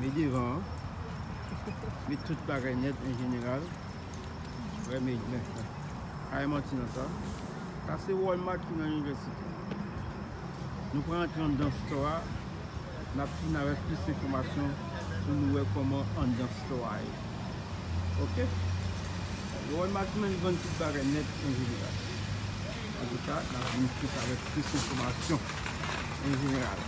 Men devan an. Men tout bagay net en general. Wè men men. Aye manti nan sa. Sa se Walmart ki nan universite. Nou pran antre an dan store a. Nap fin avèk plis enfomasyon pou nou wè koman an dan store a ye. Ok. Walmart men li vann tout bagay net en general. An tou ka nap vin plis avèk plis enfomasyon en general.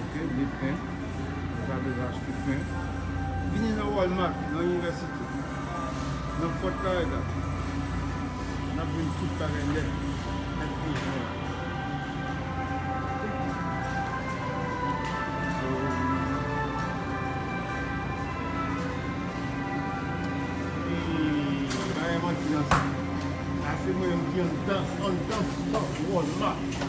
Ok, li plen. Ou pa bezwen achte plen. Vini nan Walmart, nan inivèsite. Nan Fort Lauderdale. N ap jwenn tout bagay nèt. Nèt pou ou jwenn. Ase mwen yon ki andan Walmart.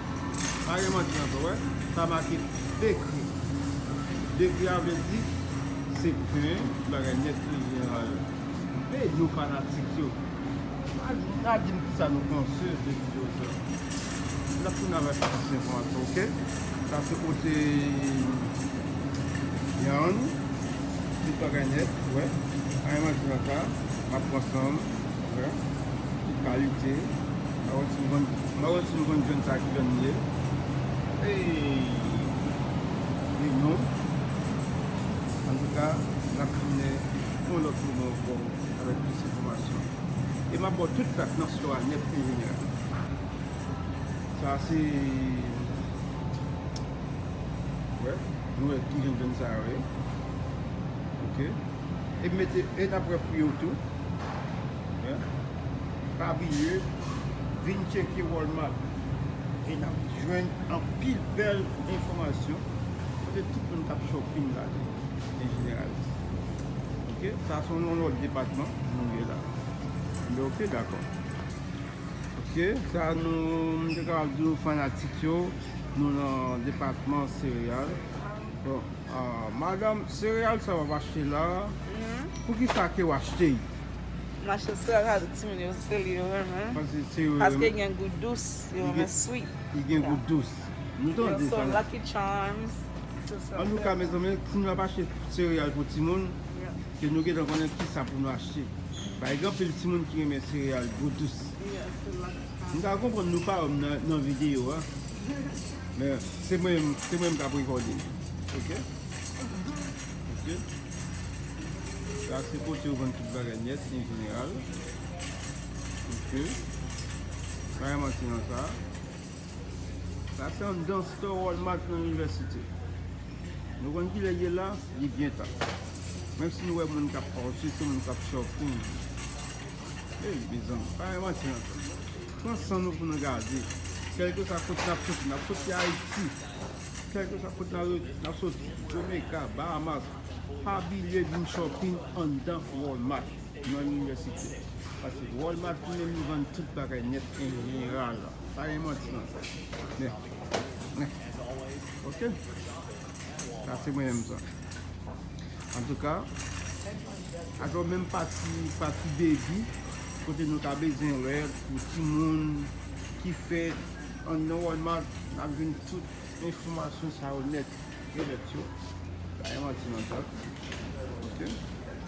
Pa gen manti ankò. Ou wè? Sa make dekri. Dekri a vle di se pen, ti bagay nèt an jeneral. Be yo fanatik yo. Pa di m ki sa nou panse de videyo sa. N ap tounen avèk plis enfòmasyon, ok? Sa se kote Yann. Tout bagay nèt, ou wè. Pa gen manti nan sa. M ap pran san m. Kalite Mawon ti nou Mawon ti nou konn jwenn sa ki jwenn ye Li non Antouka nap tounen yon lòt moman ankò avèk plis enfòmasyon e map baw tout dat nan store a nèt enjenyè Sa a se Wè Nou wè ki jwenn jwenn sa a wè Ok e mete e nap wè pri yo tou. Pa bliye vin tcheke Walmart e nap jwenn anpil bèl enfòmasyon kote tout moun kap shopping la tou en general. Ok sa son yon lòt depatman nou ye la. Anbe ok dakò. Ok sa nou m te ka ap di nou fanatik yo nou nan depatman sereyal. Madame cereal sa wap achte la poukisa kew achte i. M achte cereal sa pou timoun yo se li yo renmen paske li gen gou dous yo renmen sweet. Li gen gou dous. Nou tande sa. Lucky charms. Antouka mezanmi timoun ap achte cereal pou timoun ke nou gentan konnen kisa pou nou achte. Paske gen anpil timoun ki renmen cereal gou dous. M ta konprann nou pa wèm nan video a. Men se mwen se mwen kap rekòde ok ok sa se kote yo vann tout bagay nèt en jeneral ok pa gen manti nan sa sa se anndan stò walmart nan inivèsite nou konn kilè ye la li gentan menm si nou wè moun kap pase se moun kap shopping. Hey mezanmi pa gen manti nan sa. Pran san nou pou nou gade. Kèlkeswa kote n ap soti, n ap soti Ayiti, kèlkeswa kote n ap soti, Jamaica, Bahamas, pa bliye vin shopping anndan Walmart nan Inivèsite. Paske Walmart li menm li vann tout bagay nèt en jeneral. Pa gen manti nan sa. Men. Ok. Sa se mwen menm sa. An tou ka, ak yon menm pati, pati baby, kote nou ta bezwen wè pou ti moun ki fèt an nan Walmart, n ap jwenn tout enfòmasyon sa yo nèt e lèt yo. Pa gen manti ladan. Ok.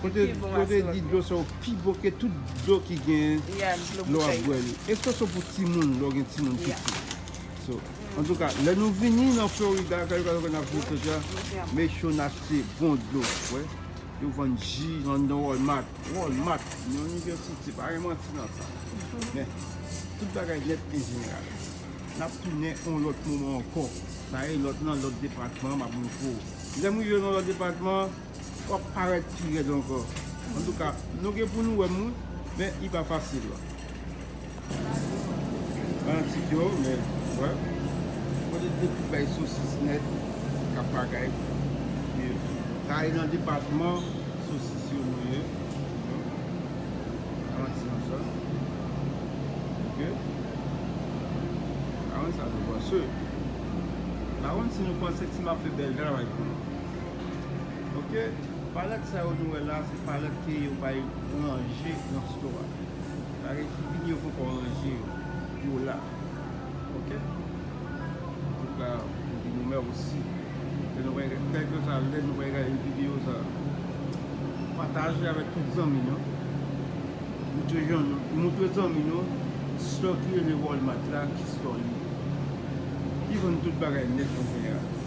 Kote yo te di dlo sa yo pi bon ke tout dlo ki gen lè w ap bwè li. Espresso pou timoun lè w gen timoun piti. So, antouka, lè nou vini nan Florida, kay yo ka wè n ap jwe sòsyè, make sure n achte bon dlo. Wè, yo vann ji anndan Walmart. Walmart, nan New York City, pa gen manti nan sa. Men, tout bagay nèt an jeneral. N ap tounen yon lòt moman ankò. Sa e lòt nan lòt depatman m ap montre w. Lè m rive nan lòt depatman. Wap paret pi red anko. Antouka nou gen pou nou wè moun men li pa fasil la. Fanatik yo men wè. Kote de ki bay sosis net kap bagay pou yo tou. Sa e nan depatman sosis yo nou ye. Avan ti manchè. Ok. Avan sa nou panse. Avan si nou panse ti map fe bel travay pou nou. Ok palet sa yo nou wè la se palet ke yo bay ranje nan store a sa vle di vini yo poko ranje yo yo la ok antouka nou di nou mèsi kelkesa lè nou vin gade video sa pataje avèk tout zanmi nou moutre zanmi nou store ki rele walmart la ki store li ki vann tout bagay nèt kounye a.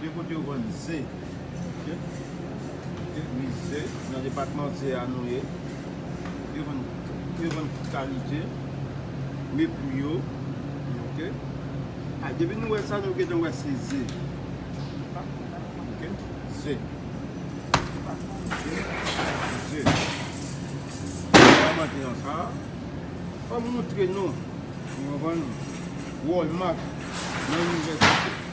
Gen kote yo vann ze ok gen wi ze nan depatman ze a nou ye yo vann yo vann tout kalite wi pou yo ok a depi nou wè sa nou gentan wè se ze ok ze ze an mante nan sa fòm moutre nou nou vann walmart nan inivèsite.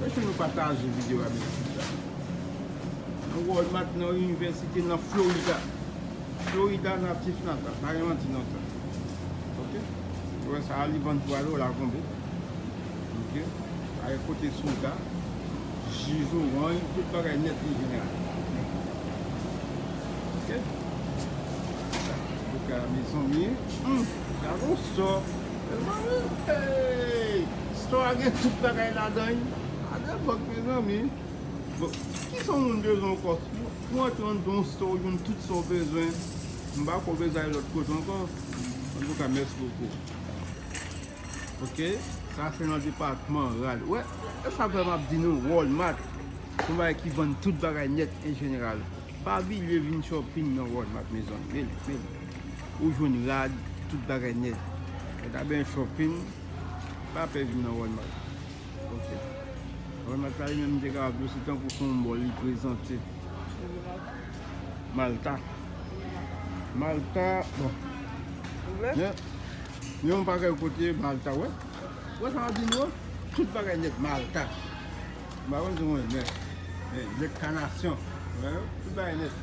Mete nou pataje video a mesye mesye Nan walmart nan universite nan florida Florida natif natal pa gen manti nan sa ok ou wè sa a li vann pou a dola konbe ok a e kote soda ji zorany tout bagay net li vini a ok ok mezanmi hum gade yon sò Store a gen tout bagay ladan ui. Sa gen bug mezanmi. Kisa yon moun bezwen anko. Pou antre nan yon store ou jwenn tout sa ou bezwen. M pako bezwen ale lot kote anko. Antouka mèsi bokou. Ok sa se nan depatman rad. Wè esak fè map di nou walmart son bagay ki vann tout bagay net en general. Pa bliye vin shopping nan walmart mezanmi. ou jwenn rad, tout bagay nèt. Mwen ta benyen shopping, pa pè vin nan Walmart. Ok. Walmart la li menm te kapab tou se tankou fon bò li prezante. Malta. Malta, bon. Mwen, ni yon pa kèy kote Malta wè. Wè sa mwen di nou an, tout bagay nèt Malta. Mwen pa konn si mwen nèt. Nèt kanasyon. Mwen, tout bagay nèt.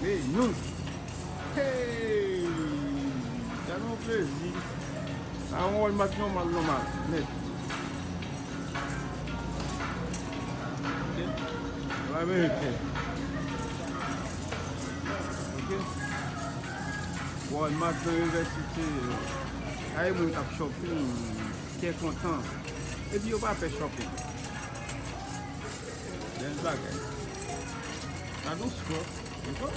Hey nou Hey Sa nou plezi Sa yon wòl mat nòmal nòmal Nèt Ok Wòl ameriken Ok Wòl mat nan universite Gade moun kap shopping Kè kontan Epi yo pa pè shopping Bel bagay. Sa dous fò. Mwen fò.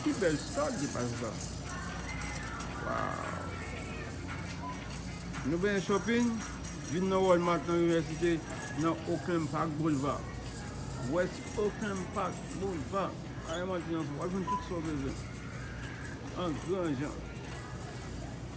Ki bel stad ki pas la. Wow. Nou ben shopping. Vin nan Walmart nan université nan Oakland Park Boulevard. West Oakland Park Boulevard. Aye mwen ti nan fò. Wap vin tout sa w bezwen. An gran jan.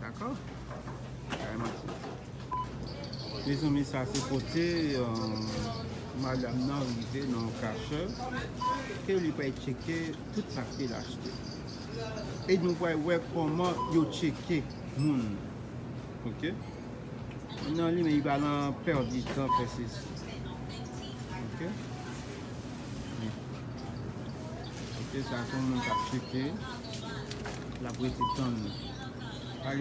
Dako Bagay manti Mezanmi sa se kote Madam nan rive nan yon kachè Ke li pral tcheke tout sak li achte E nou pral wè koman yo tcheke moun Ok Nan li men li pa nan pèdi tan fè sesi Ok Ok sa se yon moun kap tcheke Lap rete tann ou. Pa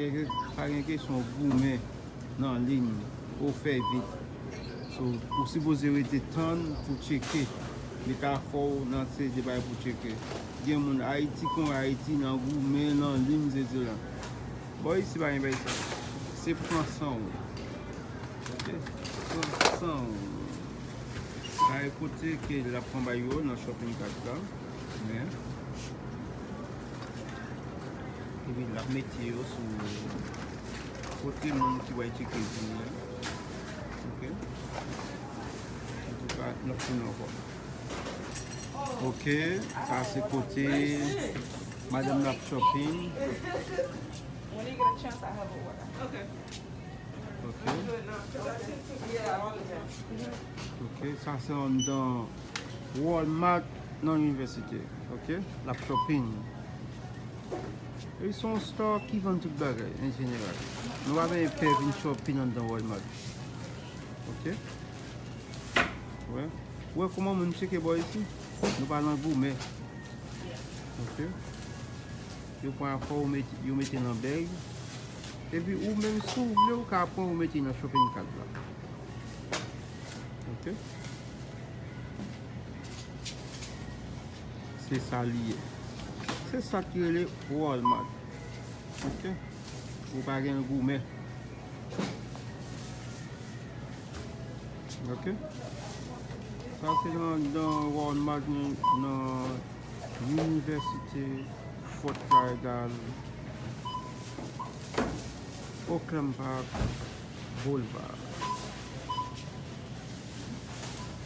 gen kesyon ou goumen nan liy pou fè vit. So ou sipoze rete tann pou tcheke. Li ka fè ou nan se de bay pou tcheke. Gen moun Ayiti kon Ayiti nan goumen nan liy se di lan. Bò isi pa gen bay sa. Se pran san ou. Ok. Pran san ou. Kay kote ke lap pran bay yo nan shopping cart la. Men, epi lap mete yo sou kote moun ki wè tcheke vini an. Ok. Antouka, nap tounen ankò. Ok, sa se kote madanm nan ap shopping. Ok, sa se anndan. Walmart nan université ok lap shopping e son store ki vann tout bagay en general nou pa beye pè vin shopping andan walmart ok ou wè kouman moun tcheke bò isi nou pa nan goumen ok yo pran afò ou yo mete nan bag epi ou menm si ou vle ou ka pran ou mete nan shopping cart la ok. Se sa li ye. Se sa ki rele Walmart. Ok. Ou pa gen goumen. Ok. Sa se nan Walmart nan Université Fort Lauderdale. Oakland Park Boulevard.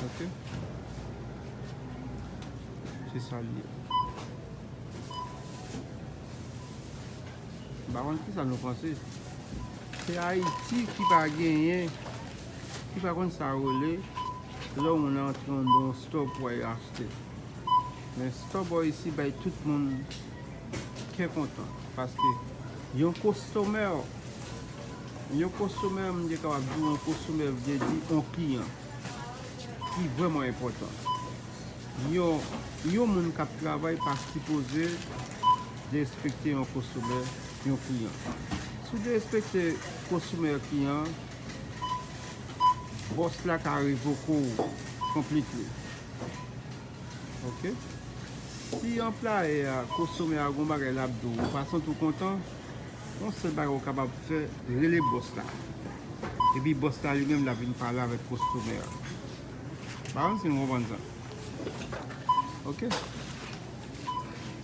Ok. Se sa li ye. Ba wan ki sa nou panse. Se Haiti ki pa genyen. Ki pa kon sa ou le. Lè ou nan tron don stop ou a y achte. Men stop ou a y si bay tout moun. Kè kontan. Paske yon kostomè ou. Yon konsomè, m te kapab di w, yon konsomè vle di yon kliyan ki vreman enpòtan. Yon moun k ap travay pa sipoze derespekte yon konsomè, yon kliyan. Si w derespekte konsomè, kliyan, bòs la ka revoke w konplitli. Ok? Si anplayè a, konsomè a gen yon bagay l ap di w, ou pa santi w kontan, Yon sèl bagay ou kapab fè, rele bòs la. Epi bòs la li menm l ap vin pale avèk kostomè a. M pa konn si nou konprann sa. Ok.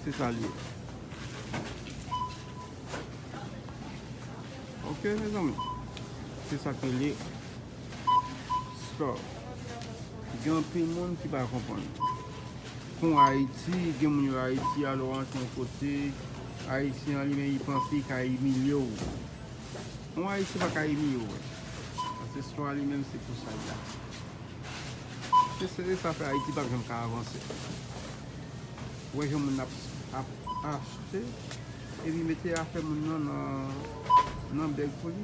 Se sa li ye. Ok mezanmi. Se sa ki li. Stop Gen anpil moun ki pa konprann Kon Haiti gen moun yo Haiti a lè w rantre yon kote Haitien an li menm li panse li ka imilye w Yon Haitien pa ka imilye w Ancestro a li menm se pou sa l la Se se sa k fè Haiti pap janm ka avanse Ou wè jan moun ap achte epi mete afè moun nan nan bèg pou li.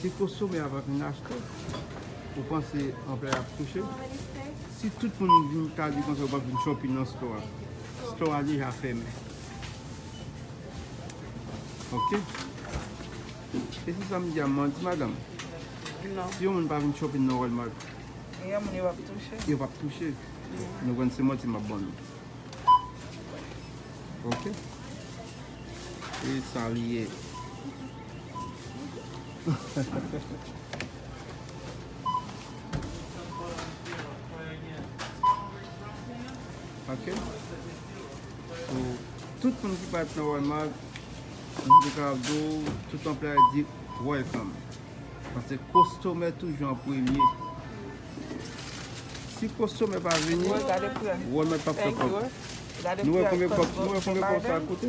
Se kosome avan vin achte. Ou panse anplwaye ap touche. Si tout moun vin ta di konsa ou pap vin shopping nan store a. Store a deja fèmen. Ok. E si sa m di a m manti madam? Non. Si yon moun pa vin shopping nan Walmart. E yon moun yo pap touche. Yo pap touche. Nou konn se manti m ap ban nou. Ok. E sa li ye. Ok Pou tout moun ki pat nan Walmart Mwen te ka ap di w tout anplwaye di welcome Paske kostomè toujou an premye Si kostomè pa vini Walmart pap fè kòb Nou wè konbyen kòb sa koute?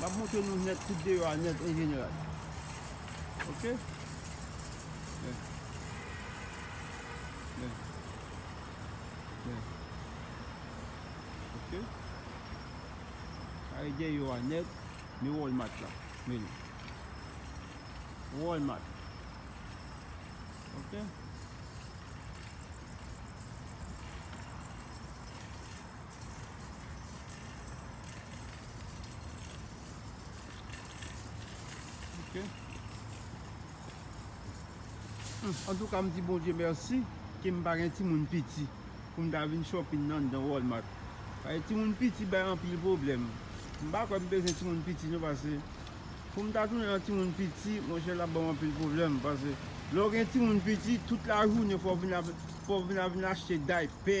Map montre nou nèt tout deyò a nèt an jeneral. Ok. Bè. Bè. Bè. Ok. Kare deyò a nèt. Ni wòl mat la. Mè ni. Wòl mat. Ok. Ok. Antouka m di Bondye mèsi ke m pa gen timoun piti pou m ta vin shopping nan anndan Walmart. Paske timoun piti bay anpil pwoblèm. M pa kwè m bezwen timoun piti non paske pou m ta tounen an timoun piti, monchè l ap ban m anpil pwoblèm. Paske lè w gen timoun piti, tout lajounen fò w vin ap vin achte daypè.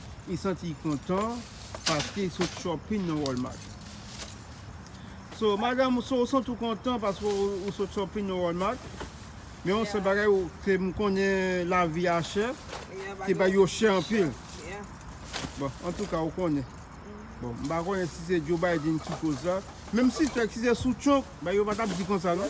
Li santi li kontan paske li sot shopping nan Walmart. So madam ou so ou santi ou kontan paske ou sot shopping nan Walmart. Men yon sèl bagay ou ke m konnen lavi a chè. Ke bagay yo chè anpil. Bon antouka ou konnen. Bon m pa konnen si se Joe Biden ki koz sa. Menm si se sou Trump bagay yo pa tap di konsa non.